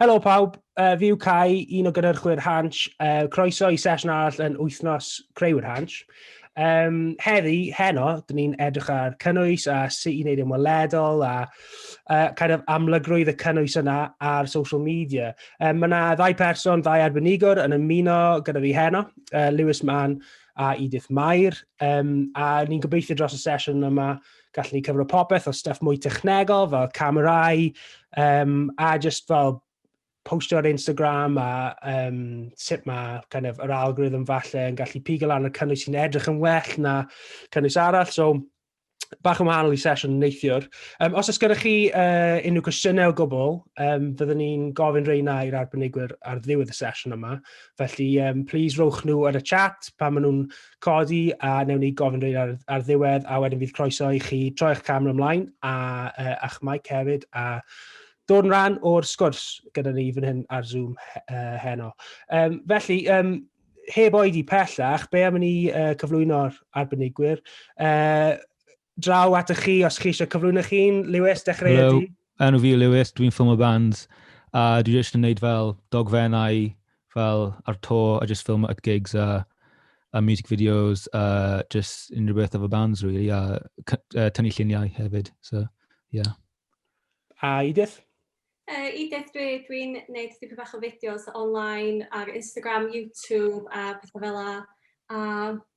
Helo pawb, uh, fi yw Cai, un o gynhyrchwyr Hansh. Uh, croeso i sesiwn arall yn wythnos Creuwyr Hansh. Um, heddi, heno, dyn ni'n edrych ar cynnwys a sut i wneud yn weledol a uh, kind of amlygrwydd y cynnwys yna ar social media. Um, mae yna ddau person, ddau arbenigwr yn ymuno gyda fi heno, uh, Lewis Mann a Edith Mair. Um, a ni'n gobeithio dros y sesiwn yma gallu cyfro popeth o stuff mwy technegol fel camerau um, a just fel postio ar Instagram a um, sut mae kind of, yr algorithm falle yn gallu pigo lan y cynnwys sy'n edrych yn well na cynnwys arall. So, bach yn wahanol i sesiwn neithiwr. Um, os oes gyda chi uh, unrhyw cwestiynau o gwbl, um, fyddwn ni'n gofyn reina i'r arbenigwyr ar ddiwedd y sesiwn yma. Felly, um, please rowch nhw ar y chat pan maen nhw'n codi a newn ni gofyn rhaid ar, ar ddiwedd a wedyn bydd croeso i chi troi eich camera ymlaen a, uh, a'ch mic hefyd a dod yn rhan o'r sgwrs gyda ni fan hyn ar Zoom uh, heno. Um, felly, um, heb oed i pellach, be am ni uh, cyflwyno'r arbenigwyr? Uh, draw atoch chi os chi eisiau cyflwyno'ch hun. Lewis, dechrau Hello. ydi. Enw fi Lewis, dwi'n ffilmio bands a dwi jyst yn gwneud fel dogfennau fel ar to a jyst ffilmio at gigs a, a music videos a jyst unrhyw beth efo bands really a uh, tynnu lluniau hefyd. So, yeah. A Edith? Yy Edith dwi dwi'n neud dipyn bach o fideos online ar Instagram YouTube a petha fel 'a a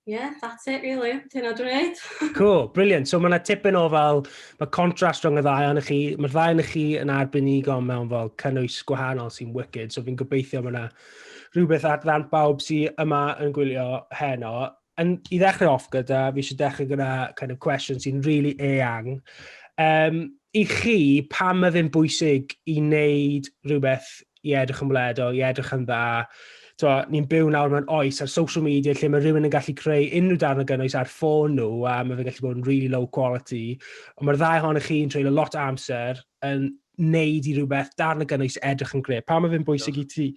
ie that's it rili. Dyna dwi'n neud. Cool, brilliant. So mae yna tipyn o fel, mae contrast rhwng y ddau yn chi, mae'r ddau yn chi yn arbenigo mewn fel cynnwys gwahanol sy'n wicked, so fi'n gobeithio mae yna rhywbeth at ddant bawb sy'n yma yn gwylio heno. And i ddechrau off gyda, fi eisiau dechrau gyda kind of cwestiwn sy'n really eang. Um, I chi, pam mae fe'n bwysig i wneud rhywbeth i edrych yn wledo, i edrych yn dda, ni'n byw nawr mewn oes ar social media lle mae rhywun yn gallu creu unrhyw darn o gynnwys ar ffôn nhw a mae fe'n gallu bod yn really low quality. Ond mae'r ddau ohonych chi'n treulio lot o amser yn neud i rhywbeth darn o gynnwys edrych yn greu. Pa mae fe'n bwysig i, ti,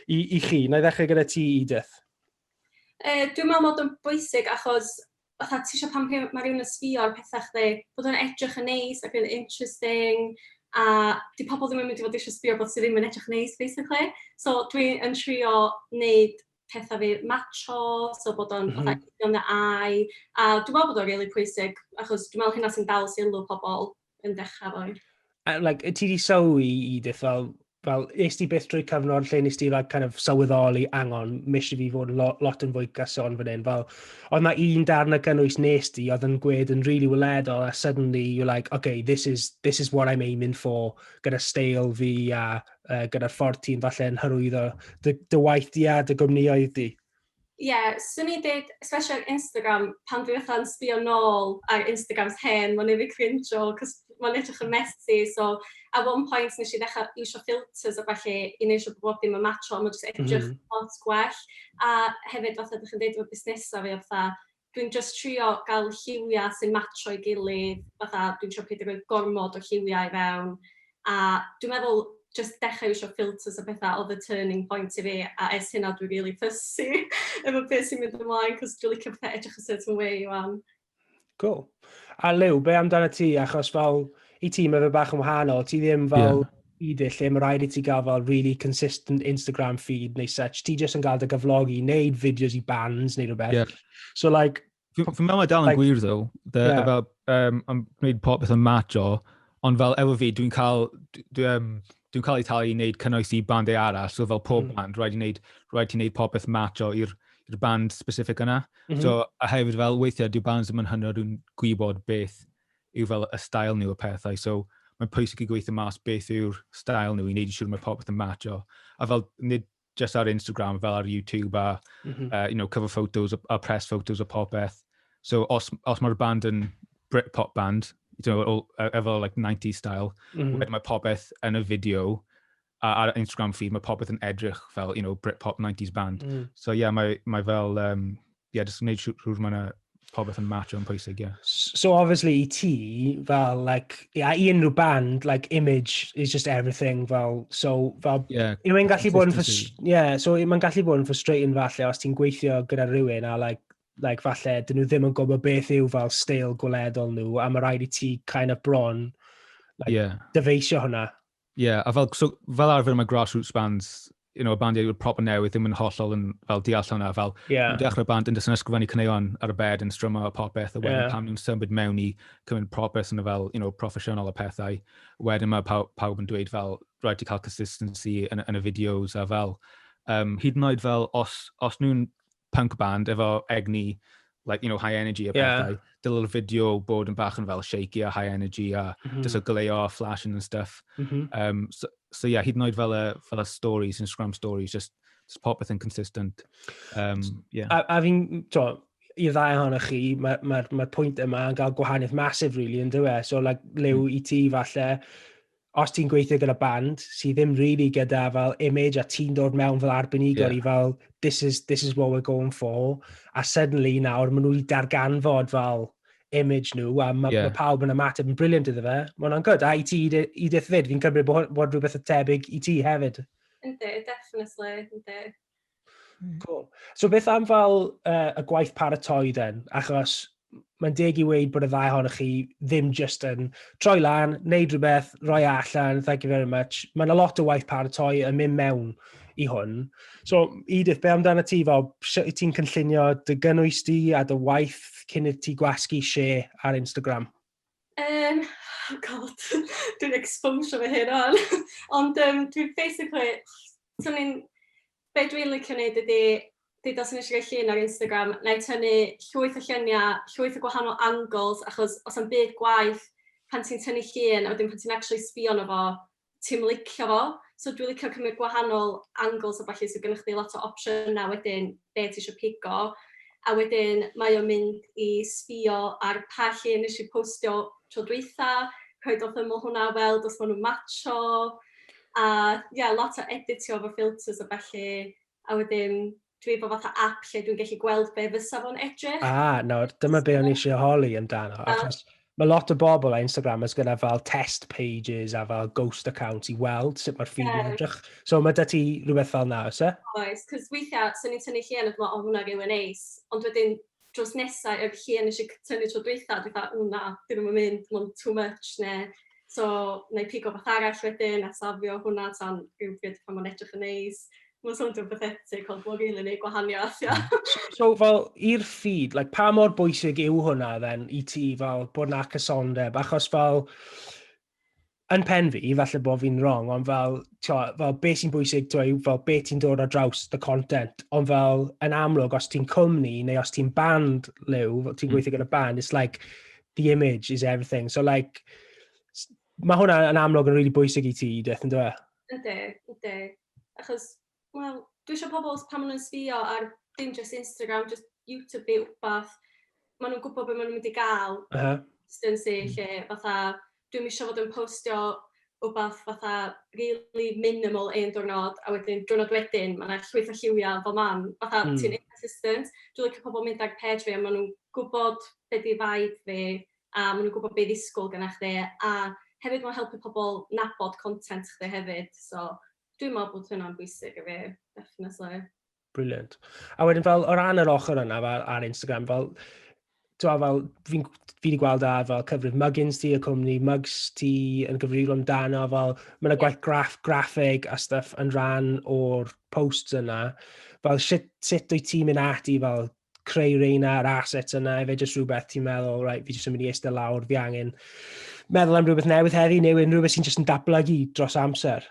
i, i chi? Na i ddechrau gyda ti, Edith. Yy dwi'n meddwl bod o'n bwysig achos fatha ti isio pan rhyw- ma' rhywun yn sbio ar petha chdi bod o'n edrych yn neis ac yn interesting a 'di pobl ddim yn mynd i fod isio sbio ar rywbeth sy ddim yn edrych yn neis basically. So dwi yn trio wneud petha fi matsio so bod o'n fatha yn dy eye a dwi'n meddwl bod o'n rili pwysig achos dwi'n meddwl hynna sy'n dal sylw pobl. yn dechrau fo. Uh, like, ti di sylwi i ddiff fel, fel, nes ti beth drwy cyfnod lle nes ti like, kind of, sylweddoli angon, mis i fi fod lo, lot yn fwy gyson fan hyn. Fel, oedd na un darn y cynnwys nes ti, oedd yn gwed yn really weledol, a suddenly you're like, okay, this is, this is what I'm aiming for, gyda steil fi a uh, gyda'r ffordd ti'n falle yn hyrwyddo dy, dy waith di a dy gwmnioedd di. Ie, 'swn i'n deud especially ar Instagram, pan dwi fatha'n sbïo nôl ar Instagrams hen, mae'n wneud fi crinjo cos mae'n edrych yn messy. So at one point wnes i ddechrau iwsio filters a ballu i wneud yn siŵr bod bob dim yn matsio a mae jyst yn edrych lot gwell. A hefyd, fatha dach chi'n deud efo busnesau, mae o fatha... Dwi'n jyst trio gael lliwiau sy'n matsio'i gilydd, fatha dwi'n trio peidio rhoi gormod o lliwiau i fewn, a dwi'n meddwl jyst dechrau iwsio filters a pethau oedd y turning point i fi, a ers hynna dwi rili fussy efo beth sy'n mynd ymlaen, cos dwi'n licio pethau edrych y certain way wan. Cool. A Lew, be amdana ti? Achos fel, i ti mae fe bach yn wahanol, ti ddim fel... Yeah. i dy lle ma raid i ti gael fel really consistent Instagram feed neu such, ti jyst yn gael dy gyflogi i wneud fideos i bands neu rhywbeth. Yeah. So like... Fi'n fi meddwl mae dal yn like, gwir ddo, dda, yeah. fel, um, am gwneud popeth yn match o, ond fel efo fi, dwi'n cael, dwi'n um, dwi cael ei talu i wneud cynnwys i bandau arall, so fel pob mm. band, rhaid i wneud, rhaid i wneud popeth match o i'r band specific yna. Mm -hmm. So, a hefyd fel weithiau, dwi'n bands ddim yn hynod yn gwybod beth yw fel y style nhw a pethau, so mae'n pwysig i gweithio mas beth yw'r style nhw i wneud yn siŵr mae popeth yn matcho. A fel, nid just ar Instagram, fel ar YouTube a mm -hmm. uh, you know, cover photos a press photos a popeth. So os, os mae'r band yn Britpop band, you know, all, efo like 90 style, mm -hmm. mae popeth yn y fideo a ar Instagram fi, mae popeth yn edrych fel, you know, Britpop 90s band. Mm. So, yeah, mae, mae fel, um, yeah, just wneud siwr mae'n pobeth yn match o'n pwysig, ie. Yeah. So obviously i ti, fel, like, yeah, i unrhyw band, like, image is just everything, fel, so, fel, yeah, yw e'n gallu bod yn, yeah, so mae'n gallu bod yn frustrating falle os ti'n gweithio gyda rhywun a, like, like, falle, dyn nhw ddim yn gwybod beth yw fel stael gweledol nhw, a mae rhaid i ti kind of bron, like, yeah. dyfeisio hwnna. Ie, a fel, so, fel arfer mae grassroots bands, you know, y bandiau yw'r proper newydd ddim yn hollol yn fel deall hwnna, fel yeah. yn dechrau band yn dysyn ysgrifennu cyneuon ar y bed yn strymo a popeth, a wedyn yeah. pam nhw'n symud mewn i cymryd propeth yn y fel, you know, proffesiynol a pethau, wedyn mae pawb, pawb yn dweud fel, rhaid i cael consistency yn, yn y fideos a fel, um, hyd yn oed fel, os, os nhw'n punk band efo egni, like, you know, high energy a yeah. pethau. Dylai'r fideo bod yn bach yn fel shaky a high energy a mm -hmm. just o gleio a flashing and stuff. Mm -hmm. um, so, so yeah, hyd yn oed fel y, fel y stories, Instagram stories, just, just popeth yn consistent. Um, yeah. A, a fi'n, to, i ddau hon chi, mae'r ma, ma, ma pwynt yma yn cael gwahaniaeth masif, really, yn dweud. So, like, lew mm. i ti, falle, os ti'n gweithio gyda band sydd ddim really gyda fel image a ti'n dod mewn fel arbenigwr yeah. i fel this is, this is what we're going for a suddenly nawr maen nhw'n darganfod fel image nhw a mae yeah. ma pawb yn ymateb yn briliant iddo fe. Mae hwnna'n good. A i ti, Edith fyd, fi'n cymryd bod, bod rhywbeth y tebyg i ti hefyd. Ynddi, definitely, ynddi. Hmm. Cool. So beth am fel uh, y gwaith paratoi den? Achos mae'n deg i weid bod y ddau ohonoch chi ddim just yn troi lan, neud rhywbeth, roi e allan, thank you very much. Mae'n a lot o waith paratoi yn mynd mewn i hwn. So, Edith, be amdano ti fel, sut ti'n cynllunio dy gynnwys di a dy waith cyn i ti gwasgu lle ar Instagram? Yym, oh God, dwi'n ecsposio fy hun ŵan! Ond yym, dwi basically... 'swn i'n... be dwi'n licio wneud ydy, deud os 'sen ni isio rhoi llun ar Instagram, wna i tynnu llwyth o lluniau, llwyth o gwahanol angles, achos does na'm byd gwaeth pan ti'n tynnu llun a wedyn pan ti'n acshyli sbïo arno fo, ti'm yn licio fo. So dwi'n licio cymryd gwahanol angles a ballu, so gennych chdi lot o opsiynau wedyn be ti isio pigo. A wedyn mae o'n mynd i sbïo ar pa llun wnes i postio tro dwytha, rhoi dod ymyl hwnna, weld os maen nhw'n matsio, a ie lot o editio efo filters a ballu. a wedyn dwi efo fatha app lle dwi'n gallu gweld be fysa fo'n edrych. Ah, nawr, dyma be o'n i eisiau holi amdano, ah. achos mae lot o bobl a Instagramers gyda fel test pages a fel ghost accounts i weld sut mae'r ffydd yn edrych. So mae da ti rhywbeth fel na, oes e? Oes, cos weithiau, sy'n ni'n tynnu lle yn y dyma, o hwnna rili neis, ond wedyn drws nesa i'r lle wnes i cytuno tro dwytha, dwi fatha "ww na, 'di hwn ddim yn mynd, ma'n too much" neu "so wna i pigo rywbeth arall wedyn a safio hwnna tan rywbryd pan mae'n edrych yn neis". Mae'n sowndio'n bathetic ond mae'n rili wneud gwahaniaeth, ia. So fel i'r ffydd, like, pa mor bwysig yw hwnna then i ti fel bod 'na cysondeb? Achos fel Yn pen fi, falle bod fi'n wrong, ond fel, tio, fel be sy'n bwysig, tio, yw fel be ti'n dod ar draws the content, ond fel, yn amlwg, os ti'n cwmni, neu os ti'n band, Liw, ti'n mm. gweithio gyda band, it's like, the image is everything. So, like, mae hwnna yn amlwg yn rili really bwysig i ti, Edith, yn dweud? Ydy, ydy. Achos Wel, dwi isio pobl os pan ma' nw'n sbïo ar dim jyst Instagram jyst YouTube ne' wbath ma' nw'n gwbod be' ma' nw'n mynd i ga'l. Uh-huh. ...consistency lle fatha dwi'm isio fod yn postio wbath fatha rili minimal un diwrnod a wedyn diwrnod wedyn ma' 'na llwyth o lliwia fel mam fatha... Hmm. ...ti'n inconsistent. Dwi licio pobol mynd ar page fi a ma' nw'n gwbod be' 'di vibe fi a ma' nw'n gwbod be' i ddisgwl gynna chdi a hefyd ma'n helpu pobol nabod content chdi hefyd so Dwi'n meddwl bod hynna'n bwysig i fi, definitely. Brilliant. A wedyn fel, o ran yr ochr yna fel, ar Instagram, fel, ti'n fel, fi'n fi wedi gweld ar fel cyfrif Muggins ti, y cwmni Mugs ti yn gyfrifol amdano, fel mae yna gwaith graff, graffeg a stuff yn rhan o'r posts yna. Fel sut, sut wyt ti'n mynd ati fel creu reina yr assets yna, efe jyst rhywbeth ti'n meddwl, right, fi jyst yn mynd i eistedd lawr, fi angen meddwl am rhywbeth newydd heddi, neu unrhyw beth sy'n jyst yn datblygu dros amser?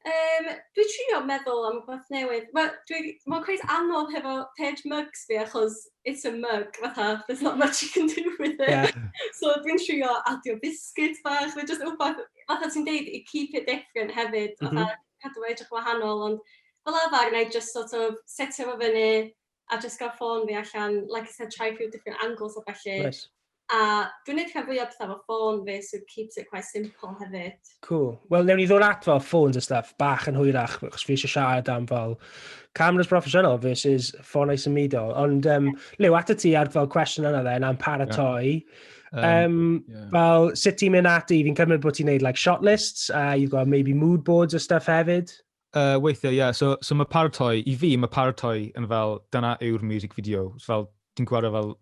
Um, dwi trio meddwl am rhywbeth newydd. Mae ma cweith anodd hefo page mugs fi, achos it's a mug, fatha, there's not much you can do with it. Yeah. so dwi'n trio adio biscuit bach, fe just rhywbeth, fatha ti'n deud, i keep it different hefyd, mm -hmm. fatha cadw fe edrych wahanol, ond fel arfer, na i just sort of setio fo fyny, a jyst cael ffôn fi allan, like I said, try a few different angles a felly. Nice. A dwi'n neud rhan fwy o bethau fo ffôn fi, so it keeps it quite simple hefyd. Cool. Wel, newn ni ddod at fel ffôns a stuff bach yn hwyrach, chos fi eisiau siarad am fel cameras professional versus ffônau symudol. Ond, um, Lew, at y ti ar fel cwestiwn yna dde, na'n paratoi. Yeah. Um, um, yeah. Fel, sut ti'n mynd ati? Fi'n cymryd bod ti'n neud like shot lists, a uh, you've got maybe mood boards a stuff hefyd. Uh, weithiau, ie. Yeah. So, so mae paratoi, i fi, mae paratoi yn fel, dyna yw'r music video. So, fel, ti'n gwario fel,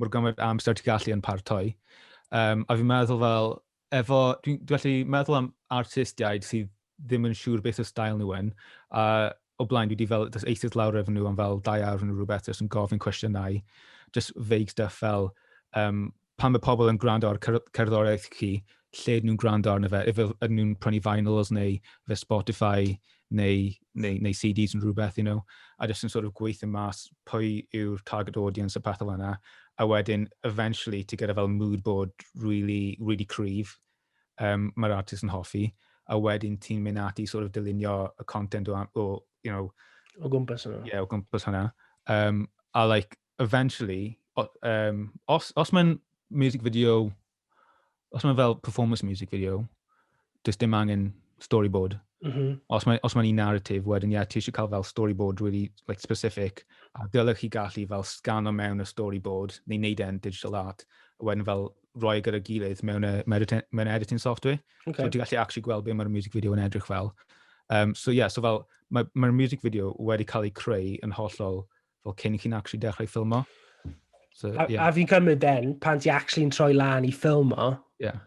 mor gymaint amser ti'n gallu yn paratoi. Um, a fi'n meddwl fel, efo, dwi'n dwi felly meddwl am artistiaid sydd ddim yn siŵr beth o stael nhw yn. A o blaen, dwi wedi fel, dys eistedd lawr efo nhw am fel dau awr yn rhywbeth, jyst yn gofyn cwestiynau, just vague stuff fel, um, Pan mae pobl yn gwrando ar cerddoriaeth chi, lle ydyn nhw'n gwrando arno fe? Ife ydyn nhw'n prynu vinyls neu ife Spotify neu neu neu CDs neu rhywbeth, you know? A jyst yn sort of gweithio mas pwy yw'r target audience a pethe fel 'na, a wedyn eventually ti gyda fel mood board rili rili cryf yym ma'r artist yn hoffi, a wedyn ti'n mynd ati i sort of dylunio y content o a- o you know... O gwmpas hwnna. ...ie o gwmpas hwnna. Yym a like eventually, um, os, os mae'n music video, os mae'n fel performance music video, does dim angen storyboard. Mm -hmm. Os mae'n ma un narrative, wedyn, ie, yeah, ti eisiau cael fel storyboard really like, specific, a dylech chi gallu fel scan o mewn y storyboard, neu wneud e'n digital art, a wedyn fel roi e gyda'r gilydd mewn, y, mewn editing software. Okay. So ti'n gallu actually gweld beth mae'r music video yn edrych fel. Um, so ie, yeah, so fel, mae'r ma music video wedi cael ei creu yn hollol fel cyn i chi'n actually dechrau ffilmo. So, a, yeah. a fi'n cymryd then, pan ti actually'n troi lan i ffilmo, yeah.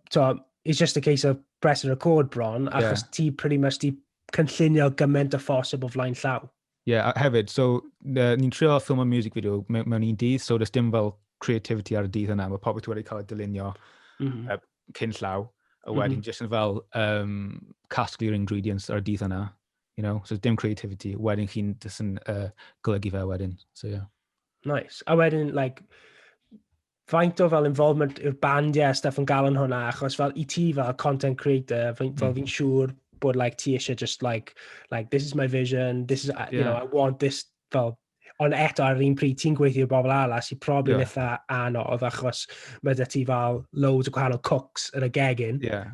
so, it's just a case of press and record bron, achos yeah. ti pretty much di cynllunio gymaint o ffosib o flaen llaw. Ie, yeah, hefyd, so, uh, ni'n trio ffilm o music video mewn, mewn un dydd, so does dim fel creativity ar y dydd yna, mae pobl wedi cael ei dylunio mm -hmm. uh, cyn llaw, a wedyn mm -hmm. jyst yn fel um, casglu'r ingredients ar y dydd yna, You know, so dim creativity. Wedyn chi'n just yn uh, golygu fe wedyn. So, yeah. Nice. A wedyn, like, faint o fel involvement yw'r band, yeah, stuff yn gael yn hwnna, achos fel i ti fel content creator, fel mm. fi'n siŵr bod like, ti eisiau just like, like, this is my vision, this is, yeah. you know, I want this, fel, ond eto ar yr un pryd ti'n gweithio bobl ala sy'n probably yeah. eitha anodd achos mae dy ti fel loads o gwahanol cooks yn y gegin. Yeah.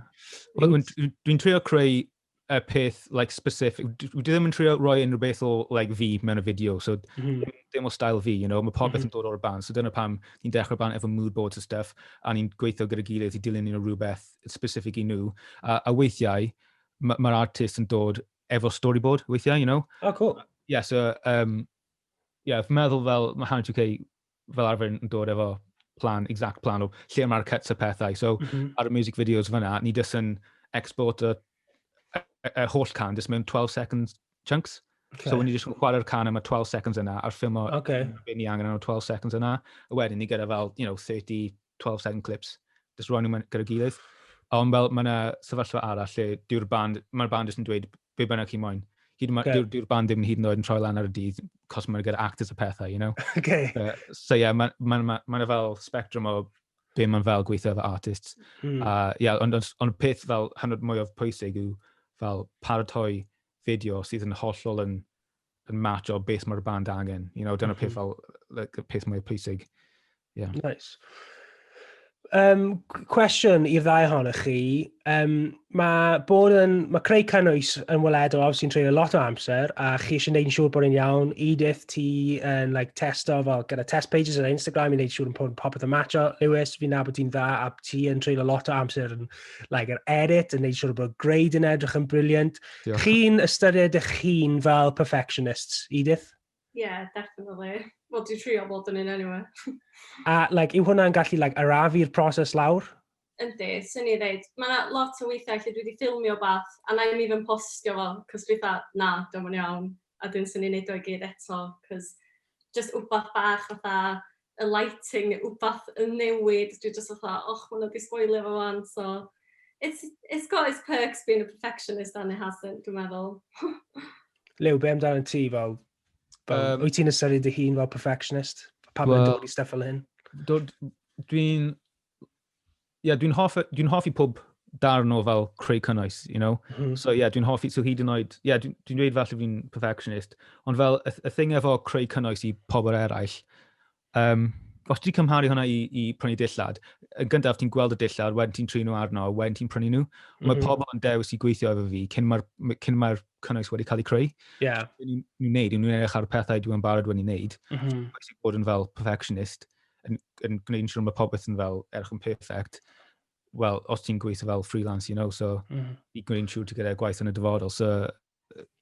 Well, Dwi'n trio creu y peth, like, specific. Dwi dwi ddim yn trio roi unrhyw beth o, like, fi mewn y fideo, so mm. dim, dim o style fi, you know, mae popeth mm -hmm. yn dod o'r ban, so dyna pam ni'n dechrau ban efo mood boards a stuff, a ni'n gweithio gyda gilydd i dilyn nhw rhywbeth specific i nhw, a, a weithiau, mae'r ma artist yn dod efo storyboard weithiau, you know. Oh, cool. Yeah, so, um, yeah, fy meddwl fel, mae Hanna UK fel arfer yn dod efo plan, exact plan o lle mae'r cuts a pethau. So, mm -hmm. ar y music videos fyna, ni dys yn export y, y, y holl can, dys mewn 12 seconds chunks. Okay. So, ni jyst yn chwarae'r can am y 12 seconds yna, a'r ffilm o okay. beth ni angen am y 12 seconds yna. A wedyn ni gyda fel, you know, 30, 12 second clips, just rwan nhw'n gyda'i gilydd. Ond fel, mae yna sefyllfa arall lle dyw'r band, mae'r band jyst yn dweud be bynnag chi moyn. Hyd okay. dyw'r dyw band ddim yn hyd yn oed yn troi lan ar y dydd, cos mae'n gyda actors y pethau, you know? Okay. Uh, so yeah, mae'n ma, ma, ma, ma fel spectrum o be mae'n fel gweithio efo artists. Mm. A yeah, ond on, on peth fel hanner mwy o pwysig yw fel paratoi fideo sydd yn hollol yn yn match o beth mae'r band angen. You know, dyna mm -hmm. peth fel, like, y peth mwy pwysig. Yeah. Nice. Um, cwestiwn i'r ddau ohonych chi. Um, mae bod yn, mae creu cynnwys yn weledol awr sy'n treulio lot o amser a chi eisiau gwneud yn siŵr bod yn iawn. Edith, ti yn like, testo fel gyda test pages ar Instagram i wneud siŵr yn popeth yn matcho. Lewis, fi'n nabod ti'n dda a ti yn treulio lot o amser yn like, er edit, yn gwneud siŵr bod grade yn edrych yn briliant. Briliant Diolch. Chi'n ystyried eich hun fel perfectionists, Edith? Ie, yeah, definitely. Wel, dwi'n trio bod yn un anyway. A, like, yw hwnna'n gallu, like, arafu'r proses lawr? Yndi, sy'n ni ddeud. Mae yna lot o weithiau lle dwi wedi ffilmio beth, a na i mi fy postio fo, cos dwi dda, na, dwi'n yn iawn. a wedyn 'swn i'n wneud o i gyd eto, cos jyst wbath bach fatha y lighting neu wbath yn newid, dwi jyst fatha "Och, ma' hwnna 'di sboilio fo 'wan." So it's it's got its perks being a perfectionist and it hasn't dwi'n meddwl. Lew, be' amdano ti fel fel Um, wyt ti'n ystyried dy hun fel perfectionist? Pam mae'n Wel- dod i stuff fel hyn? Dwi'n yeah, dwi'n hoffi, dwi'n hoffi pob darn o fel creu cynnwys, you know? Mm -hmm. So, yeah, dwi'n hoffi, so hyd yn oed, yeah, dwi'n dwi dweud falle fi'n perfectionist, ond fel y, y thing efo creu cynnwys i pobl eraill, um, os ti'n cymharu hwnna i, i prynu dillad, yn gyntaf ti'n gweld y dillad, wedyn ti'n trin nhw arno, wedyn ti'n prynu nhw. Mm -hmm. Mae mhm. pobl yn dewis i gweithio efo fi cyn mae'r ma, ma cynnwys wedi cael ei creu. Yeah. Ni'n gwneud, ni'n edrych ar pethau dwi'n barod wedi wneud. Mm -hmm. Bod yn fel perfectionist. yn, yn gwneud yn siŵr mae popeth yn fel erch yn perfect, wel, os ti'n gweithio fel freelance, you know, so mm. i gwneud yn siŵr ti gyda'r gwaith yn y dyfodol. So,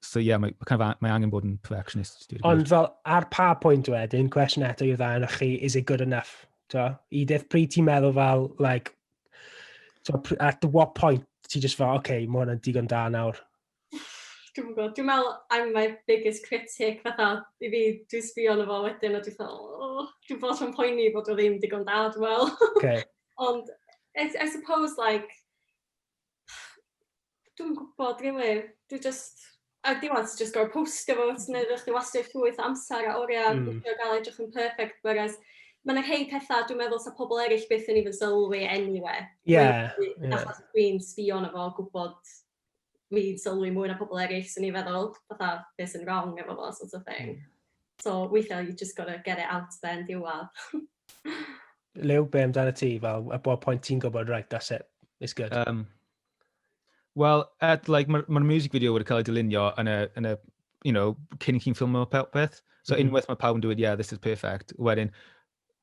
so yeah, mae, kind of, mae angen bod yn perfectionist. Ond fel, ar pa pwynt wedyn, cwestiwn eto i'r dda yna chi, is it good enough? So, I ddeith pryd ti'n meddwl fel, like, so, at what point ti just fel, oce, okay, mae hwnna'n digon da nawr. Dwi'm yn gw'o' dwi me'wl I'm my biggest critic fatha i fi dwi sbio arno fo wedyn a dwi fel o dwi bob tro yn poeni fod o ddim digon da dwi me'wl. Oce. Ond I I suppose like dwi'm yn gwbod rili dwi jyst ar diwadd ti jyst gor'o' postio fo ti neud fel chdi wastio llwyth o amsar a oria... Hmm. ...yn trio ga'l o edrych yn perffect whereas ma' 'na rhei petha dwi meddwl sa pobol eryll byth yn even sylwi eniwe. Ie ie. Achos dwi'n sbio arno fo gwbod fi'n sylwi mwy na pobl eraill, 'swn i'n feddwl, fatha be sy'n wrong efo fo sort of thing. So weithiau you just gotta get it out there yn diwedd. Lew, be amdano ti? Fel, at what point ti'n gwybod, right, that's it, it's good? Um, Wel, at, like, mae'r ma music video wedi cael ei dylunio yn y, yn y you know, cyn i chi'n ffilmio peth. So mm -hmm. unwaith mae pawb yn dweud, yeah, this is perfect, wedyn,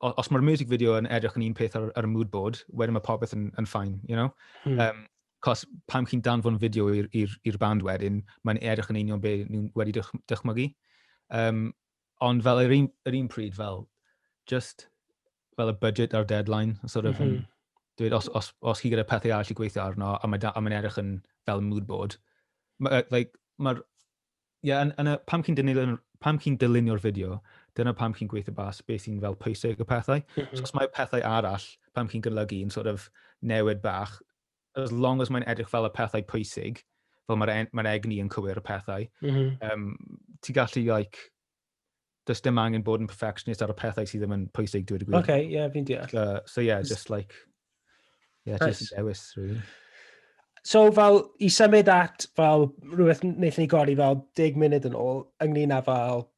os mae'r music video yn edrych yn un peth ar, ar y mood board, wedyn mae popeth yn, yn ffain, you know? Hmm. Um, cos pam chi'n danfon fideo i'r band wedyn, mae'n edrych yn union be nhw'n wedi dych, dychmygu. Um, ond fel yr un, yr un pryd, fel, just fel y budget a'r deadline, sort of, mm -hmm. dweud, os, os, os chi gyda pethau arall i gweithio arno, a mae'n ma edrych yn fel mood board, ma, like, mae'r ie, yn, yn y, pam chi'n dynilio'r, pam chi'n dylunio'r fideo, dyna pam chi'n gweithio bas beth sy'n fel pwysig y pethau. Mm -hmm. so, os mae pethau arall, pam chi'n gynlygu yn sort of newid bach, as long as mae'n edrych fel y pethau pwysig, fel mae'r mae egni yn cywir y pethau, mm -hmm. um, ti gallu, like, does dim angen bod yn perfectionist ar y pethau sydd ddim yn pwysig, dweud y gwir. Okay, yeah, fi'n deall. So, so yeah, just like, yeah, nice. just dewis, really. So, fel, i symud at, fel, rhywbeth wnaethon ni godi fel 10 munud yn ôl, ynglyn â fel,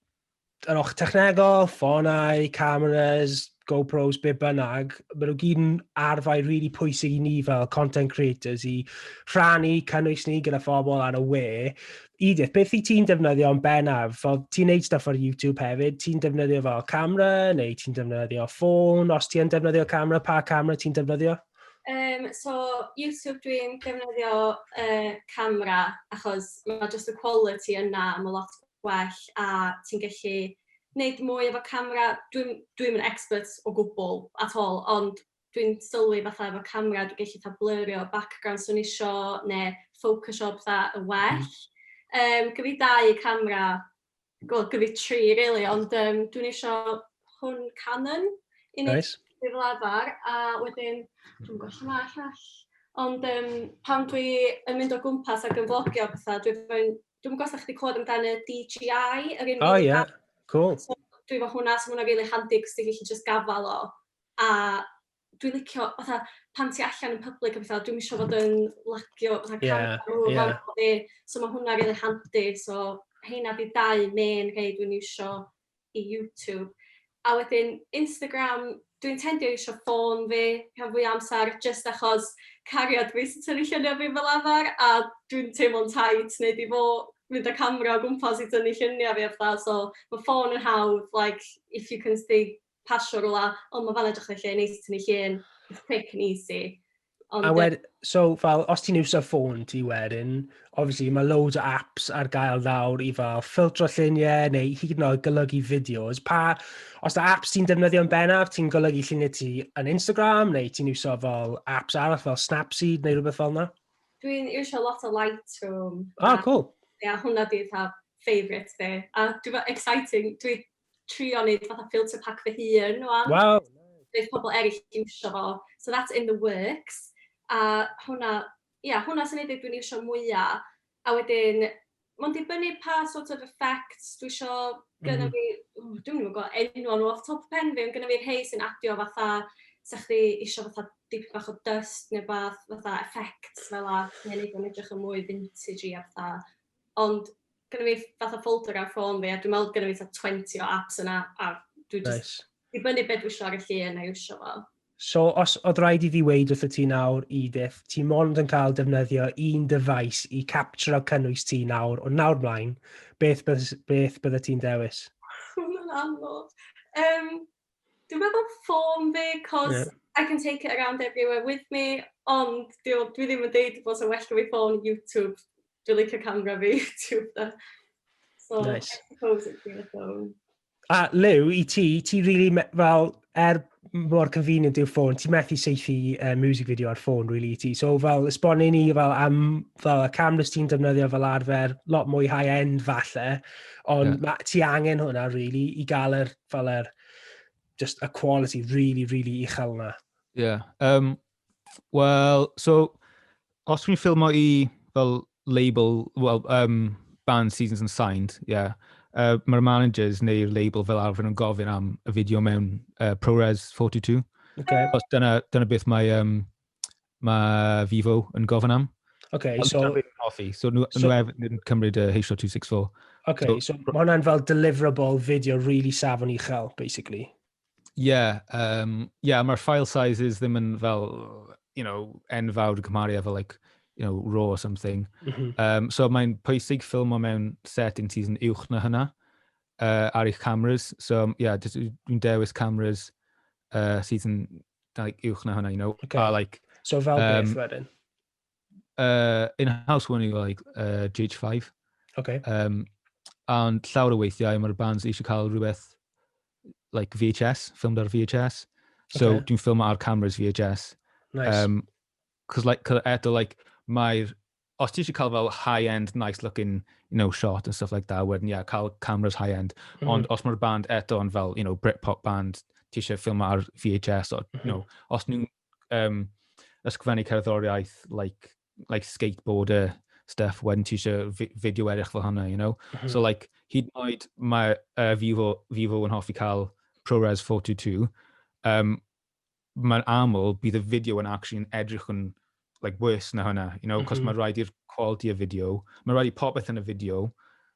yr och technegol, ffonau, cameras, GoPros, be bynnag, maen nhw gyd yn arfau rili really pwysig i ni fel content creators i rhannu cynnwys ni gyda phobl ar y we. Edith, beth i ti'n defnyddio yn bennaf? Fel ti'n neud stuff ar YouTube hefyd, ti'n defnyddio fel camera neu ti'n defnyddio ffôn? Os ti'n defnyddio camera, pa camera ti'n defnyddio? Um, so, YouTube dwi'n defnyddio uh, camera achos mae just y quality yna, mae lot gwell a ti'n gallu wneud mwy efo camera. Dwi'm dwi'm yn expert o gwbl at all ond dwi'n sylwi fatha efo camera dwi'n gallu fatha blyrio background 'swn i isio neu ffocysio petha yn well. Hmm. Yym gen fi dau camera, wel gen fi tri rili ond yym dwi'n isio hwn Canon i neud... Reit. ...fi fel arfer a wedyn dwi'm yn gwybod lle ma'r llall. Ond yym pan dwi yn mynd o gwmpas ac yn flogio a petha dwi efo'n Dwi'm yn gwybod os dach chi 'di clywed amdan y DJI, yr un... O ie, cŵl. So dwi efo hwnna, so ma' hwnna'n rili handi achos ti'n gallu jyst gafael o, a dwi'n licio fatha pan ti allan yn public a petha, dwi'm isio fod yn lagio fatha camera nhw... Ie, ie. ...yn fa'ma efo fi, so ma' hwnna'n rili handi. So rheina 'di dau main rhei dwi'n iwsio. i YouTube a wedyn Instagram dwi'n tendio i isio ffôn fi rhan fwya amsar jyst achos cariad fi sy'n tynnu lluniau fi fel arfer a dwi'n teimlo'n tight neud i fo mynd â camera o gwmpas i tynnu lluniau fi a petha so ma' ffôn yn hawdd like if you can see pasio rwla o ma' fan 'na edrych reit lle neis i tynnu llun it's quick and easy. Ond, a wed, so, fel, os ti'n iwsio ffôn ti wedyn, obviously mae loads o apps ar gael nawr i fel ffiltro lluniau neu hyd yn oed golygu fideos. Pa, os da apps ti'n defnyddio'n bennaf, ti'n golygu lluniau ti yn Instagram neu ti'n iwsio fel apps arall fel Snapseed neu rhywbeth fel yna? Dwi'n iwsio lot o Lightroom. Ah, cool. Ia, yeah, hwnna di'r favourite fi. A dwi'n exciting, dwi'n trio wneud fatha filter pack fy hun ŵan. Waw! Bydd pobl eraill yn iwsio fo. So that's in the works. A hwnna, ia, hwnna sy'n ei dweud dwi'n iwsio mwya. A wedyn, mae'n dibynnu pa sort of effects dwi isio gynna fi. Dwi'm yn gwybod gweld enwau nhw off the top of pen fi, ond gynna fi rhai sy'n adio fatha, 'sa chdi isio fatha dipyn bach o dyst neu rywbeth, fatha effects fel 'na, neu wneud o'n edrych yn mwy vintagey a petha. ond gyda fi fatha folder ar ffôn fi a dwi'n meddwl gyda fi fatha 20 o apps yna a dwi just... Nice. ...i fyny beth dwi eisiau ar y llun a iwsio fo. So, os oedd rhaid i fi weid wrth y ti nawr, Edith, ti mond yn cael defnyddio un dyfais i capturo cynnwys ti nawr, o nawr mlaen, beth, beth, beth bydde ti'n dewis? Mae'n anodd. Um, Dwi'n meddwl ffôn fi, 'cos... Ie. ...I can take it around everywhere with me, ond 'di o... dwi ddim yn deud bod o'n well 'da fi ffôn, YouTube. Dwi'n licio camera fi, YouTube 'de. So... Neis. ...I suppose it'd be a phone. A Liw, i ti, ti rili me- fel, er m- mor convenient yw'r ffôn, ti methu seithi uh, music video ar ffôn rili i ti. So fel, esbonu ni fel am fel y cameras ti'n defnyddio fel arfer, lot mwy high-end falle, ond Ie. ma- ti angen hwnna rili i gael yr fel er, just a quality really, really uchel yna. Ie. Yeah. Um, Wel, so, os dwi'n ffilmo i fel label, well, um, band seasons and signed, ie. Yeah. Uh, Mae'r managers neu'r label fel arfer yn gofyn am y fideo mewn uh, ProRes 42. Okay. Os dyna, dyna beth mae um, mae Vivo yn gofyn am. Okay, Ond so... Ond hoffi, so nhw, so, nhw hefyd yn cymryd y H.264. Okay, so, so mae hwnna'n fel deliverable fideo really safon uchel, basically. Yeah, um, yeah, mae'r file sizes ddim yn fel, you know, enfawr yn cymharu efo, like, you know, raw or something. Mm -hmm. um, so mae'n pwysig ffilm o mewn setting sy'n uwch na hynna uh, ar eich cameras. So, yeah, dwi'n dewis cameras uh, sydd yn Dau uwch na hwnna, you know. Okay. A, like, so fel um, beth wedyn? Uh, in house one you like uh, GH5. Okay. Um, and llawer o weithiau mae'r bands eisiau cael rhywbeth like VHS, filmed ar VHS. So okay. dwi'n ffilm ar cameras VHS. Nice. Um, cause like, cause eto, like, mae'r os ti eisiau cael fel high end nice looking you know shot and stuff like that wedyn ie yeah, cael cameras high end mm -hmm. ond os mae'r band eto yn fel you know Britpop band ti eisiau ffilm ar VHS or, you know, mhm. os nhw'n um, ysgrifennu cerddoriaeth like, like skateboarder stuff wedyn ti eisiau fideo erich fel hwnna you know mm -hmm. so like hyd yn oed mae uh, Vivo, Vivo yn hoffi cael ProRes 422 um, mae'n aml bydd y fideo yn actually yn edrych yn like worse na hwnna, you know, cos mm -hmm. mae rhaid i'r quality y fideo, mae rhaid i popeth yn y fideo,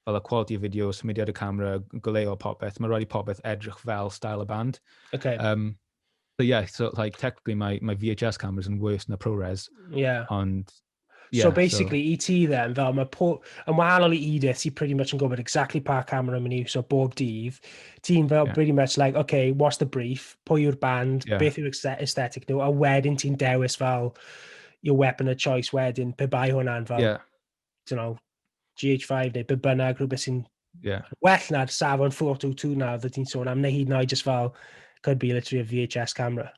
fel y quality y fideo, symudiad y camera, goleo popeth, mae rhaid i popeth edrych fel style y band. Okay. Um, so yeah, so like technically mae, mae VHS cameras yn worse na ProRes, yeah. ond Yeah, so basically, so... i ti then, fel mae po... yn wahanol i Edith, ti'n pretty much yn gwybod exactly pa camera mae'n iwsio bob dydd, ti'n fel yeah. pretty much like, okay, what's the brief, pwy yw'r band, yeah. beth yw'r aesthetic nhw, a wedyn ti'n dewis fel your weapon of choice wedyn, pe bai hwnna'n fel, yeah. you know, GH5 neu be bynnag, rhywbeth sy'n yeah. well na'r safon 422 na, oedd ti'n sôn am, neu hyd yn oed just fel, could be literally a VHS camera.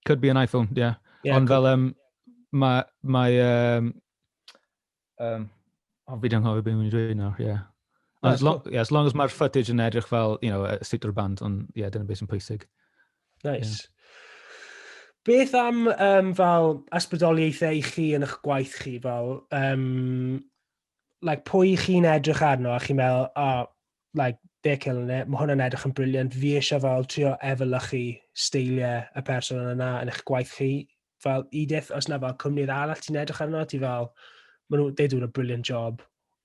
Could be an iPhone, ie. Yeah, Ond fel, um, mae... mae um, um, o, fi ddim hoffi beth i'n dweud nawr, ie. Yeah. No, as, long, cool. yeah, as long as mae'r footage yn edrych fel, you know, a state o'r band, ond ie, yeah, dyna beth sy'n pwysig. Nice. Yeah. Beth am um, fel ysbrydoliaethau i chi yn eich gwaith chi? Fel, um, like, pwy chi'n edrych arno a chi'n meddwl, oh, like, they're killing it, mae hwnna'n edrych yn briliant, fi eisiau fel trio efelychu steiliau y person yna yn eich gwaith chi. Fel Edith, os na fel cwmnir arall ti'n edrych arno, ti fel, maen nhw, they doing a brilliant job,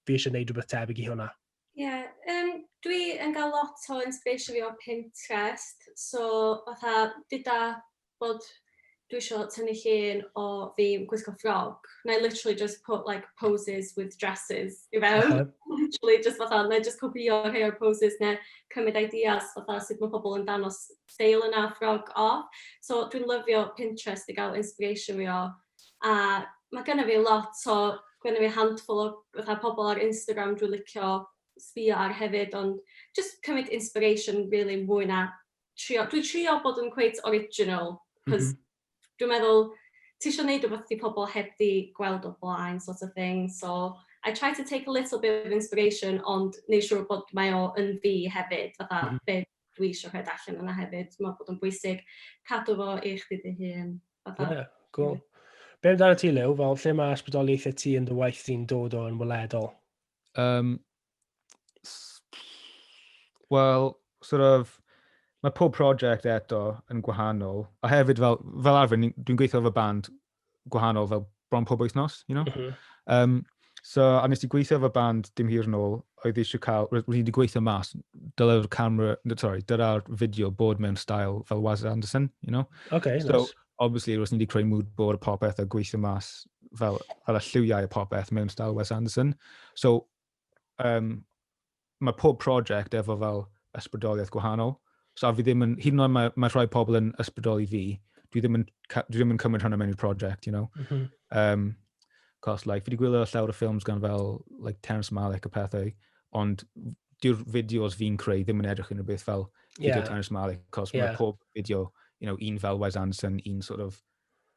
fi eisiau gwneud rhywbeth tebyg i hwnna. Ie, yym, dwi yn gael lot o inspiration fi o Pinterest, so fatha gyda bod dwi isio tynnu llun o fi yn gwisgo ffrog, wna i literally just put like poses with dresses i fewn. Literally just fatha, wna i jyst copïo rhai o'r poses neu cymryd ideas fatha sut mae pobl yn dangos steil yna, ffrog off. So dwi'n lyfio Pinterest i gael inspiration fi o. a ma' gynna fi lot o... gynna fi handful o fatha pobl ar Instagram dwi'n licio sbïo ar hefyd, ond jyst cymryd inspiration rili mwy na trio... dwi'n trio bod yn cweit original achos dwi'n meddwl ti isio wneud rywbeth dydy pobl heb 'di gweld o blaen sort of thing, so I try to take a little bit of inspiration ond wneud siŵr bod mae o yn fi hefyd, fatha be... dwi eisiau rhoi allan yna hefyd. Mae'n bod yn bwysig cadw fo i chdi dy hun. Fatha. Yeah, cool. Be amdano ti, Lew? Fel, lle mae ysbrydoliaethau ti yn dy waith di'n dod o'n weledol? Um, Wel, sort of, mae pob prosiect eto yn gwahanol. A hefyd, fel, fel arfer, dwi'n gweithio efo band gwahanol fel bron pob wythnos, you know? Mm -hmm. um, so, a nes i gweithio efo band dim hir yn ôl, oedd eisiau cael, roedd wedi gweithio mas, dyle'r camera, sorry, dyra'r fideo bod mewn style fel Waz Anderson, you know? Okay, so, nice. obviously, roedd ni wedi creu mood board popeth a gweithio mas fel, fel y lliwiau y popeth mewn style Wes Anderson. So, um, mae pob prosiect efo fel ysbrydoliaeth gwahanol. So fi ddim yn, hyd yn oed mae, mae rhai pobl yn ysbrydoli fi, dwi ddim yn, dwi ddim yn cymryd hwnna mewn i'r prosiect, you know. Mm -hmm. um, cos, like, fi wedi gwylio llawer o ffilms gan fel, like, Terence Malick a pethau, ond dyw'r fideos fi'n creu ddim yn edrych yn rhywbeth fel fideo yeah. Terence Malick, cos yeah. mae pob fideo, you know, un fel Wes Anderson, un sort of,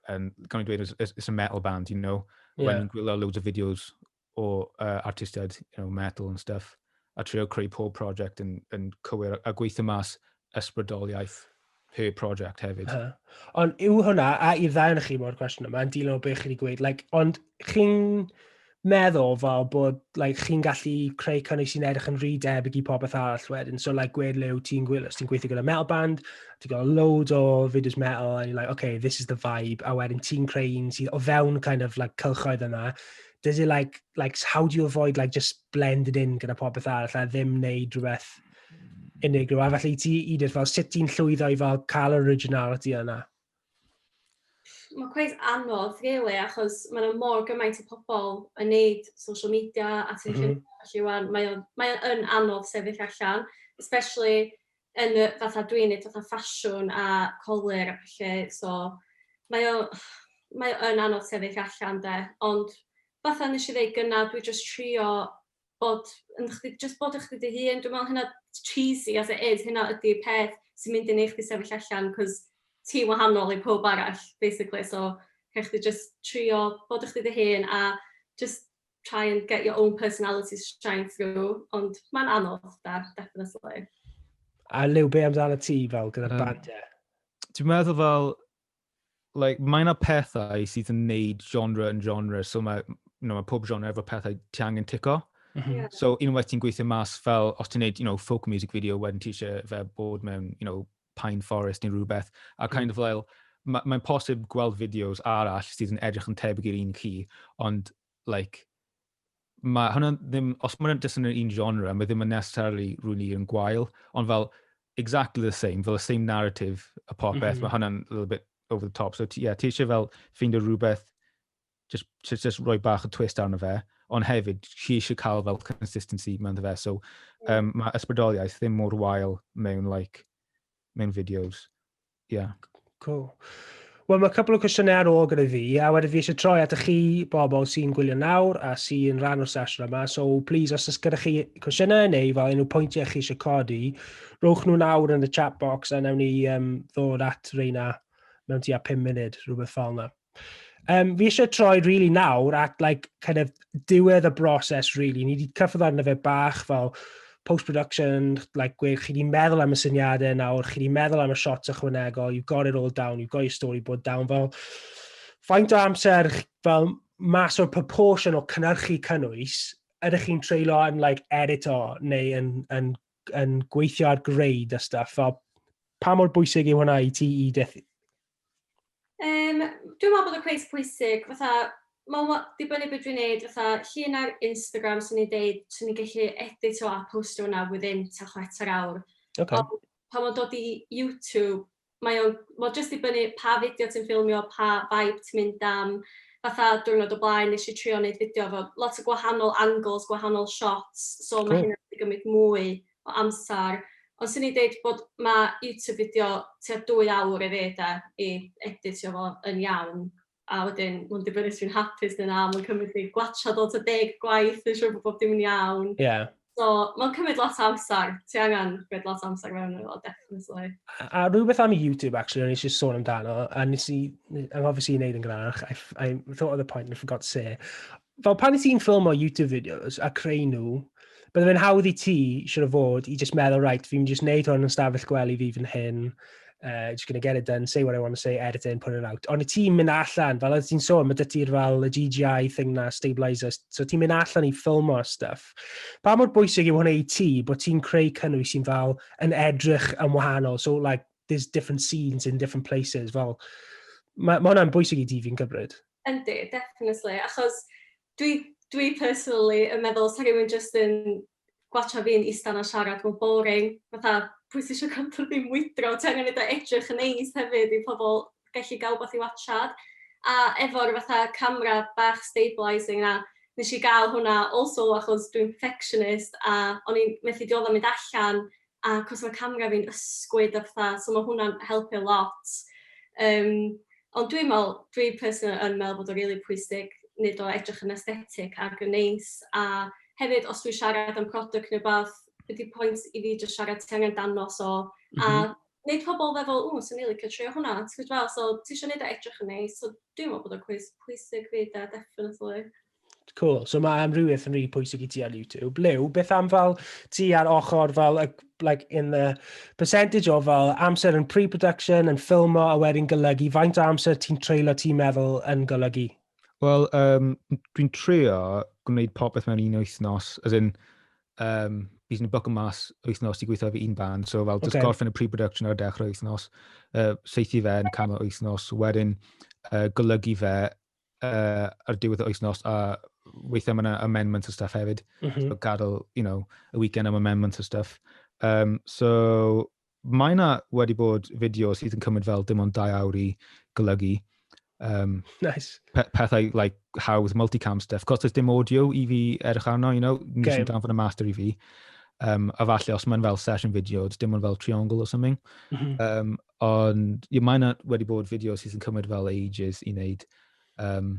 um, gan i dweud, it's, it's a metal band, you know, yeah. when gwylio loads of videos o uh, artistiaid, you know, metal and stuff, a trio creu pob prosiect yn, yn cywir a gweithio mas ysbrydoliaeth per prosiect hefyd. Uh, ond yw hwnna, a i'r ddau yn chi mo'r cwestiwn yma, yn dilyn o beth chi wedi gweud, like, ond chi'n meddwl fel bod like, chi'n gallu creu cynnig sy'n edrych yn rhy debyg i popeth arall wedyn. So, like, gwed le wyt ti'n gwylio, ti'n gweithio gyda metal band, ti'n gael load o fideos metal, and you're like, okay, this is the vibe, a wedyn ti'n creu un sydd o fewn kind of like, cylchoedd yna, does it like, like, how do you avoid like just blended in gyda popeth arall a ddim wneud rhywbeth unigryw. A felly ti, Edith, fel sut ti'n llwyddo i fel cael originality yna? Mae cweith anodd, really, achos mae yna mor gymaint o pobl yn neud social media a ti'n mm -hmm. felly wan, mae o'n mae o'n anodd sefyll allan, especially yn y fatha dwi'n neud fatha ffasiwn a colur a ballu so mae o mae o yn anodd sefyll allan 'de ond fatha nesh i ddeud gynna' dwi jyst trio bod yn chdi jyst bod yn chdi dy hun dwi me'wl hynna cheesy as it is hynna ydi'r peth sy mynd i neu' chdi sefyll allan 'c'os ti'n wahanol i powb arall basically so rhai' chdi jyst trio bod yn chdi dy hun a jyst try and get your own personality to shine through, ond mae'n anodd, da, definitely. A Liw, be amdano ti fel gyda'r um, band, ie? Dwi'n meddwl fel, like, mae yna pethau sydd yn neud genre yn genre, so mae, you know, mae pob genre efo pethau ti angen tico. Mm -hmm. yeah. So unwaith ti'n gweithio mas fel, os ti'n neud, you know, folk music video, wedyn ti eisiau fe bod mewn, you know, Pine Forest neu rhywbeth, a kind of fel, ma- mae'n posib gweld fideos arall sydd yn edrych yn tebyg i'r un chi, ond, like, mae hwnna ddim, os mae'n jyst yn yr un genre, mae ddim yn necessarily rwy'n i yn gwael, ond fel, exactly the same, fel y same narrative a popeth, mm -hmm. mae hwnna'n a little bit over the top. So, ie, yeah, ti eisiau fel ffeindio rhywbeth just, just, just rhoi bach o twist arno fe, ond hefyd, chi eisiau cael fel consistency mewn fe. So, um, mae ysbrydoliaeth ddim mor wael mewn, like, mewn videos. Yeah. Cool. Wel, mae cwpl o cwestiynau ar ôl gyda fi, a wedyn fi eisiau troi at y chi bobl sy'n gwylio nawr a sy'n rhan o'r sesiwn yma. So, please, os ys gyda chi cwestiynau neu fel unrhyw pwyntiau chi eisiau codi, rhowch nhw nawr yn y chat box a newn ni um, ddod at reina mewn tua 5 munud, rhywbeth fel yna. Um, fi eisiau troi rili really nawr at like, kind of, diwedd y broses rili. Really. Ni wedi cyffwrdd arno fe bach fel post-production, like, gwe, chi wedi meddwl am y syniadau nawr, chi wedi meddwl am y shots ychwanegol, you've got it all down, you've got your storyboard down, fel faint o amser fel mas o'r proportion o cynnyrchu cynnwys, ydych chi'n treulio yn like, edit o neu yn, yn, yn gweithio ar greid a stuff, fel pa mor bwysig yw hwnna i ti i Yym, dwi'n meddwl bod y cwis pwysig, fatha, mae'n wa- dibynnu beth dwi'n neud, fatha, llun ar Instagram, swn i'n deud, swn i'n gallu editio a postio hwnna within ta chwarter awr. Okay. Ond pan mae'n dod i YouTube, mae o'n, mae'n just dibynnu pa fideo ti'n ffilmio, pa vibe ti'n mynd am. Fatha, diwrnod o blaen, nes i trio wneud fideo efo lot o gwahanol angles, gwahanol shots, so mae Cool. hynny'n gallu gymryd mwy o amser ond 'swn i'n deud bod ma' YouTube fideo tua dwy awr i fi de i editio fo yn iawn a wedyn ma'n dibynnu os dwi'n hapus ne' na ma'n cymryd fi gwatsiad o tua deg gwaith neu' siŵr bo' bob dim yn iawn. Ie. So ma'n cymryd lot o amser. Ti angan rhoid lot o amser mewn iddo fo definitely. A, a rhywbeth am YouTube actually o'n i eisiau sôn amdano a nes i anghofio i wneud yn gynharach I, I thought of the point and forgot to say fel pan i ti'n ffilm o YouTube videos a creu nhw, bydde fe'n hawdd i ti, siwr o fod, i just meddwl, right, fi'n just neud hwn yn stafell gwely fi fy hyn, uh, just gonna get it done, say what I want to say, edit it and put it out. Ond i ti'n mynd allan, fel oedd ti'n sôn, mae dy ti'r fel y GGI thing na, stabilizer, so ti'n mynd allan i ffilm o stuff. Pa mor bwysig yw hwnna i ti bod ti'n creu cynnwys sy'n fel yn edrych yn wahanol, so like, there's different scenes in different places, fel, mae ma hwnna'n bwysig i ti fi'n cymryd. Yndi, definitely, achos dwi dwi personally yn meddwl sa rhywun jyst yn gwatcha fi'n ista 'na siarad fel boring, fatha pwy sy isio cadw fi'n mwydro, ti angen eitha edrych yn neis hefyd i pobl gallu gael wbath i watsiad. A efo'r fatha camera bach stabilising 'na, wnes i gael hwnna also achos dwi'n perfectionist a o'n i'n methu dioddef mynd allan a achos ma' camra fi'n ysgwyd a petha so ma' hwnna'n helpu lot yym ond dwi'n me'wl dwi personally yn me'wl bod o'n rili pwysig neud o edrych yn aesthetic ag yn neis a hefyd os dwi'n siarad am product ne' wbath be' 'di point i fi jyst siarad ti angen dangos o a neud pobol feddwl ww swn i licio trio hwnna t'gwod fel so tisio neud o edrych yn neis so dwi'n me'wl bod o'n cweit pwysig 'fyd 'de definately. Cool. So mae amrywiaeth yn rhi pwysig i ti ar YouTube. Lew, beth am fel ti ar ochr fel, like, in the percentage o fel amser yn pre-production, yn ffilmo a wedyn golygu, faint o amser ti'n treulio ti'n meddwl yn golygu? Wel, um, dwi'n trio gwneud popeth mewn un wythnos, as in, um, bydd yn boc yn mas wythnos i gweithio fi un band, so fel, okay. gorffen y pre-production ar y dechrau wythnos, uh, seithi fe yn canol wythnos, wedyn uh, golygu fe uh, ar diwedd y wythnos, a weithiau mae yna amendments o stuff hefyd. Mm -hmm. So gadael, you know, y weekend am amendments o stuff. Um, so mae yna wedi bod fideo sydd yn cymryd fel dim ond dau awr i golygu. Um, nice. Pe pethau like hawdd, multicam stuff. Cos does dim audio i fi edrych arno, you know, nes okay. yn danfod y master i fi. Um, a falle os mae'n fel session video, dim ond fel triangle or something. Mm -hmm. um, Ond, ie, mae yna wedi bod fideos sydd yn cymryd fel ages i wneud. Um,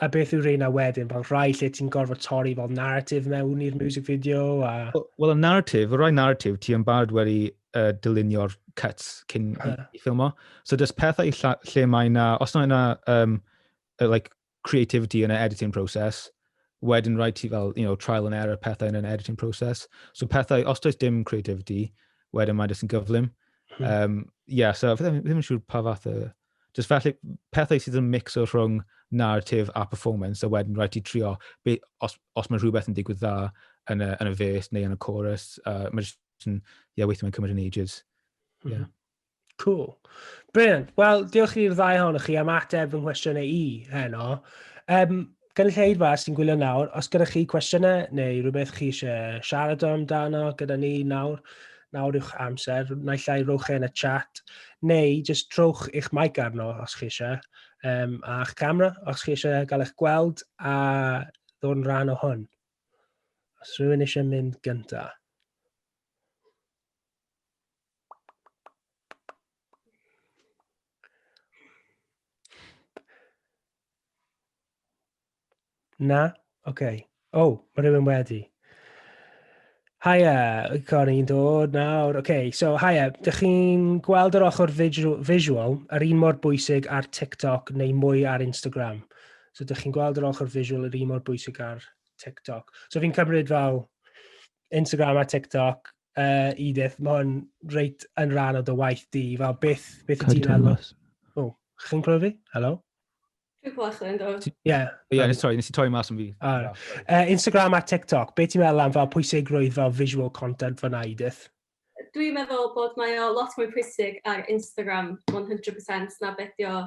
a beth yw reina wedyn? Fel rhai lle ti'n gorfod torri fel narrative mewn i'r music video? A... Wel, well, y narrative, y rhai narrative, ti yn barod wedi uh, dylunio'r cuts cyn uh. i ffilmo. So, dys pethau lle mae yna, os yna um, uh, like, creativity yn y editing process, wedyn rhaid ti fel, you know, trial and error pethau yn yr editing process. So pethau, os does dim creativity, wedyn mae'n jyst yn gyflym. Hmm. Um, yeah, so fi ddim, ddim yn siŵr pa fath o... Just felly, pethau sydd yn mix o rhwng narrative a performance, a wedyn rhaid ti trio, be, os, os mae rhywbeth yn digwydd dda yn y, yn y fes neu yn y chorus, uh, mae jyst yn, yeah, weithio mae'n cymryd yn ages. Yeah. Mm -hmm. Cool. Brilliant. Wel, diolch i'r ddau hon chi am ateb fy nghwestiynau i heno. Um, gynulleidfa sy'n gwylio nawr, os gyda chi cwestiynau neu rhywbeth chi eisiau siarad amdano gyda ni nawr, nawr yw'ch amser, naill ai rowch e yn y chat, neu jyst trowch eich mic arno os chi eisiau, um, a'ch camera os chi eisiau gael eich gweld a ddod yn rhan o hwn. Os rhywun eisiau mynd gyntaf. Na? OK. O, oh, mae rhywun wedi. Haia, Cori, i'n dod nawr. OK, so haia, dych chi'n gweld yr ochr visual yr un mor bwysig ar TikTok neu mwy ar Instagram? So dych chi'n gweld yr ochr visual yr un mor bwysig ar TikTok. So fi'n cymryd fel Instagram a TikTok, uh, Edith, mae hwn reit yn rhan o dy waith di. Fel beth, beth i ti'n alw? O, chi'n clywed fi? Helo? Dwi'n clywed chdi, ynddo. Ie. Ie, nes troi, nes i troi mas yn fi. Uh, Instagram a TikTok, beth ti'n meddwl am fel pwysigrwydd fel visual content fyna, Edith? Dwi'n meddwl bod mae o lot mwy pwysig ar Instagram 100% na bedio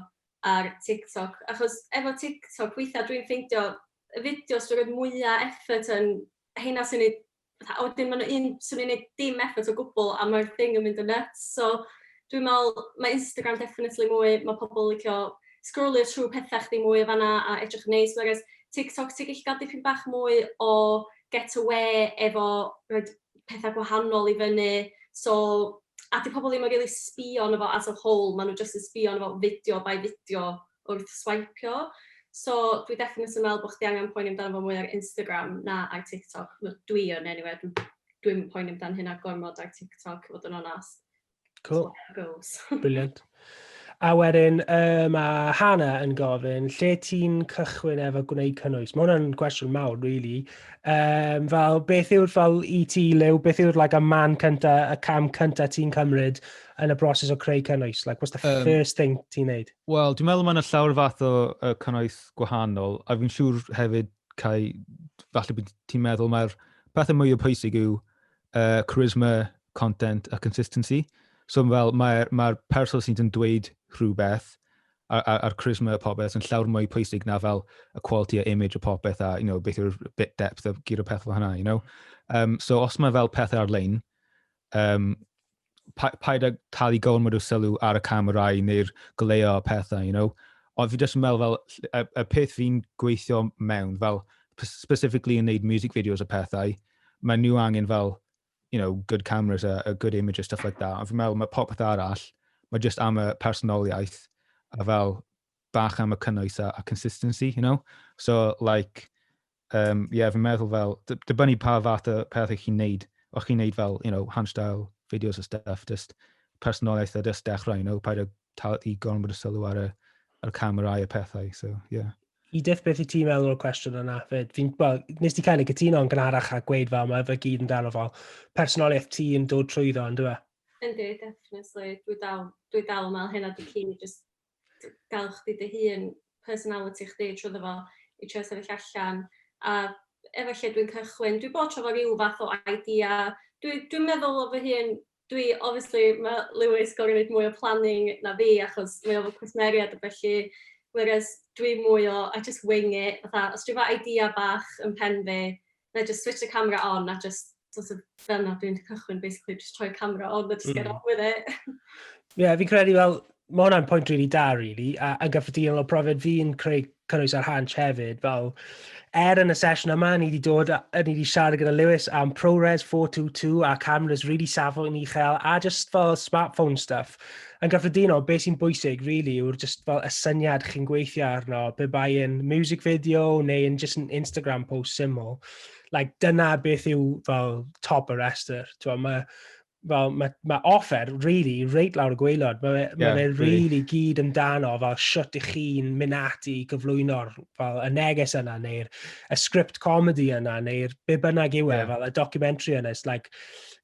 ar TikTok. Achos efo TikTok, weithiau dwi'n ffeindio y fideos dwi'n rhoi mwyaf effort yn heina sy'n ei A wedyn ma' 'na un 'swn i'n neud dim effort o gwbwl a ma'r thing yn mynd yn nyts so dwi me'wl ma' Instagram definitely mwy ma' pobol yn licio sgrolio trw petha chdi mwy o fanna a edrych yn neis whereas TikTok ti gyllu ga'l dipyn bach mwy o get awê efo roid petha gwahanol i fyny so a 'di pobol ddim yn rili sbio arno fo as a whole ma' n'w jyst yn sbio arno fo fideo by fideo. wrth swaipio. So dwi definitely yn meddwl bod chdi angen poeni amdano fo mwy ar Instagram na ar TikTok. Wel, dwi yn anyway, dwi dwi'm yn poeni amdan hynna gormod ar TikTok, i fod yn onast. Cool. Brilliant. A wedyn, uh, mae Hannah yn gofyn, lle ti'n cychwyn efo gwneud cynnwys? Mae hwnna'n gwestiwn mawr, really. Um, fel, beth yw'r fel i e ti, Lew, beth yw'r like, a man cynta, y cam cynta ti'n cymryd yn y broses o creu cynnwys? Like, what's the um, first thing ti'n neud? Wel, dwi'n meddwl mae yna llawer fath o uh, cynnwys gwahanol, a fi'n siŵr hefyd, Cai, falle bod ti'n meddwl mae'r pethau mwy o pwysig yw uh, charisma, content a consistency. So fel mae'r mae, mae person sydd yn dweud rhywbeth a'r, ar, ar charisma a popeth yn llawer mwy pwysig na fel y quality a image a popeth a you know, beth yw'r bit depth a gyr o pethau hynna. You know? um, so os mae fel pethau ar-lein, um, pa, paid â talu gormod o sylw ar y camerau neu'r goleo a pethau, you know. Ond fi jyst yn meddwl fel, y, y peth fi'n gweithio mewn, fel, specifically yn neud music videos a pethau, mae nhw angen fel, you know, good cameras a, a good images, stuff like that. Ond fi'n meddwl, mae popeth arall, mae jyst am y personoliaeth, a fel, bach am y cynnwys a, a consistency, you know. So, like, Yym, ie, fi'n meddwl fel, dy- dibynnu pa fath o peth ych chi'n neud. Os chi'n neud fel, you know, handstyle videos a stuff, just personoliaeth a just dechrau, you know, paid â tal- i gormod o sylw ar y, ar y camerâu a pethau, so, ie. Edith, beth i ti'n meddwl o'r cwestiwn yna? Fyd? Fi'n, wel, nes ti cael ei cytuno yn gynharach a gweud fel, mae fe gyd yn dal o fel personoliaeth ti yn dod trwyddo, yn dweud? Yndi, definitely. Dwi dal, dwi dal yn meddwl hynna di cyn i just gael chdi dy hun, personality chdi trwyddo fo i trio sefyll allan, a efo lle dwi'n cychwyn. Dwi bod tro fo ryw fath o idea. Dwi, dwi'n meddwl o fy hun, dwi, obviously, mae Lewis gorau wneud mwy o planning na fi, achos mae o'n cwsmeriad a felly, whereas dwi mwy o, I just wing it, fatha, os dwi fo idea bach yn pen fi, wna i jyst switsh y camera on a jyst sort of fel 'na dwi'n cychwyn basically jyst rhoi'r camera on a jyst get on with it. Ie, fi'n credu fel, mae hwnna'n pwynt rili da rili, a yn gyffredinol o profiad fi'n creu cynnwys ar Hansh hefyd, fel er yn y sesiwn yma, ni wedi dod, ni wedi siarad gyda Lewis am ProRes 422 a cameras really safon uchel a just fel smartphone stuff. Yn gyffredinol, beth sy'n bwysig, really, yw'r just fel y syniad chi'n gweithio arno, be bai yn music video neu yn just yn Instagram post syml. Like, dyna beth yw fel top y restr. Mae fel, mae, mae offer, really, reit lawr y gweilod. Mae yeah, ma fe really, really gyd amdano fel siwt i chi'n mynd ati i gyflwyno'r fel y neges yna, neu'r script comedy yna, neu'r be bynnag yw e, yeah. fel y documentary yna. It's like,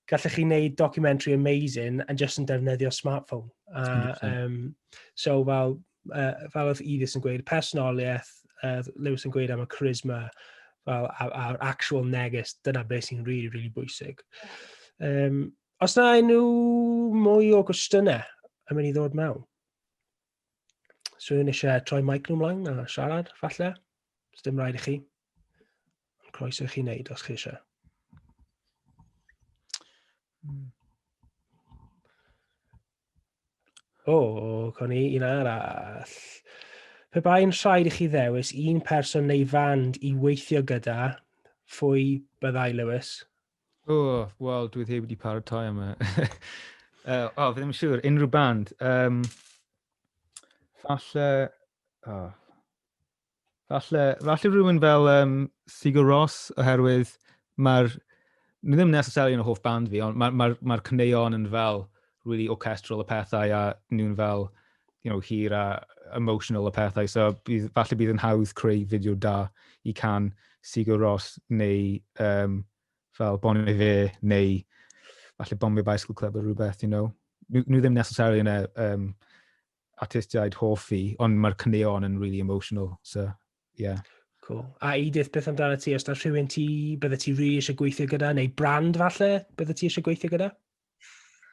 gallech chi wneud documentary amazing yn just yn defnyddio smartphone. A, um, so fel, uh, fel oedd Edith yn gweud, personoliaeth, uh, Lewis yn gweud am y charisma, fel a'r actual neges, dyna beth sy'n rili, really, really bwysig. Um, os na enw mwy o gwestiynau, yn mynd i ddod mewn? Swn i'n eisiau troi mic nhw mlaen a siarad, falle. Os dim rhaid i chi. Ond croeso i chi wneud os chi eisiau. Hmm. O, oh, con i un arall. Pe bai'n rhaid i chi ddewis un person neu fand i weithio gyda, phwy byddai Lewis? O, wel, dwi ddim wedi paratoi am y... uh, o, fi ddim yn siŵr, unrhyw band. Um, falle... Oh. Falle, falle rhywun fel um, Sigur Ross, oherwydd mae'r... Mae ddim necessarily yn y hoff band fi, ond mae'r ma, ma, ma cyneuon yn fel really orchestral y pethau a nhw'n fel you know, hir a emotional y pethau. So bydd, falle bydd yn hawdd creu fideo da i can Sigur Ros neu um, fel Bon Fe neu falle Bon Fe Bicycle Club o rhywbeth, you know. Nhw, nhw ddim necessarily yn y um, artistiaid hoff i, ond mae'r cneon yn really emotional. So, yeah. Cool. A Edith, beth amdano ti? Os da rhywun ti, bydde ti rhi really eisiau gweithio gyda, neu brand falle, bydde ti eisiau gweithio gyda?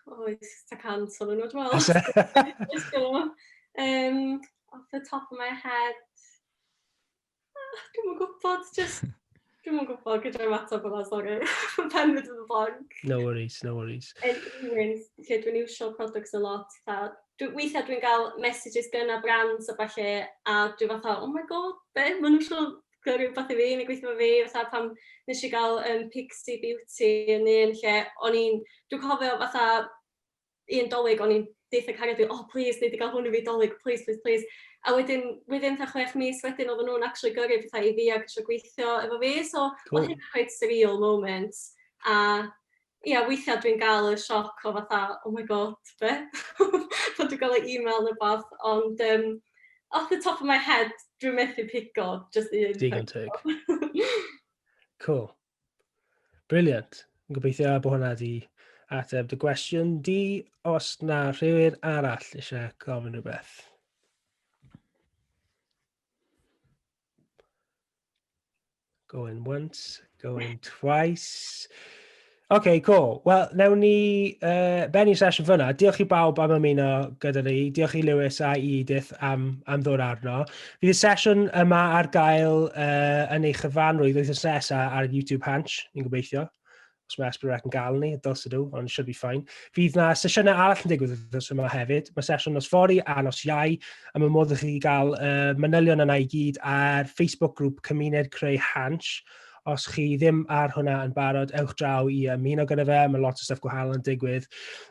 Oes, ta cant o'n nhw, dwi'n meddwl. um, off the top of my head, ah, dwi'n mwyn gwybod, just, dwi'n mwyn gwybod gyda'r ymateb yma, sori, fy pen mynd yn blank. No worries, no worries. Yn un, lle dwi'n iwsio products a lot, ta, dwi, weithiau dwi'n cael messages gyna brands a falle, a dwi'n fatha, oh my god, be, maen nhw'n siŵr gwneud rhywbeth i fi, neu gweithio efo fi, fatha pan nes i gael um, Pixie Beauty yn un lle, o'n i'n, dwi'n cofio fatha un dolyg, o'n i'n deitha y cariad fi, oh please, neu wedi gael hwn i fi dolyg, please, please, please. A wedyn, wedyn ta chwech mis wedyn, oedden nhw'n actually gyrru pethau i fi ac eisiau gweithio efo fi, so cool. oedd hynny'n quite surreal moment. A Ia weithia' dwi'n ga'l y sioc o fatha oh my God be'? Pan dwi ga'l y e-mail ne' wbath ond yym off the top of my head dwi methu pigo jyst un... Digon teg. Cŵl. Brilliant. Yn gobeithio bod hwnna 'di ateb dy gwestiwn di. Os na rhywun arall eisiau gofyn rhywbeth? Going once, going twice. OK, cool. Wel, newn ni uh, bennu sesiwn fyna. Diolch i bawb am ymuno gyda ni. Diolch i Lewis a i Edith am, am ddod arno. Fydd y sesiwn yma ar gael uh, yn ei chyfanrwydd wythnos nesaf ar YouTube Hanch, ni'n gobeithio. os mae Esbyrwrec yn gael ni, dylse nhw, ond it should be fine. Fydd na sesiynau arall yn digwydd wrth yma hefyd. Mae sesiwn nos fori a nos iau, a mae modd i chi gael uh, manylion yna i gyd ar Facebook grŵp Cymuned Creu Hansh. Os chi ddim ar hwnna yn barod, ewch draw i ymuno gyda fe, mae lot o stuff gwahanol yn digwydd.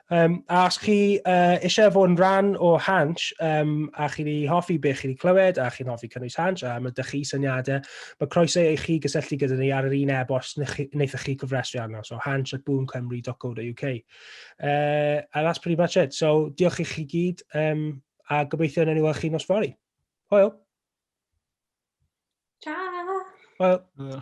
Um, a os chi uh, eisiau fod yn rhan o Hanch, um, a chi wedi hoffi beth chi wedi clywed, a chi'n hoffi cynnwys Hanch, a mae dych chi syniadau, mae croeso i chi gysylltu gyda ni ar yr un e-bost wnaethoch chi gyfrestru arno, so hanch at boomcymru.co.uk. Uh, and that's pretty much it. So, diolch i chi gyd, um, a gobeithio yn enw chi nos fori. Hwyl! Ciao! Hwyl!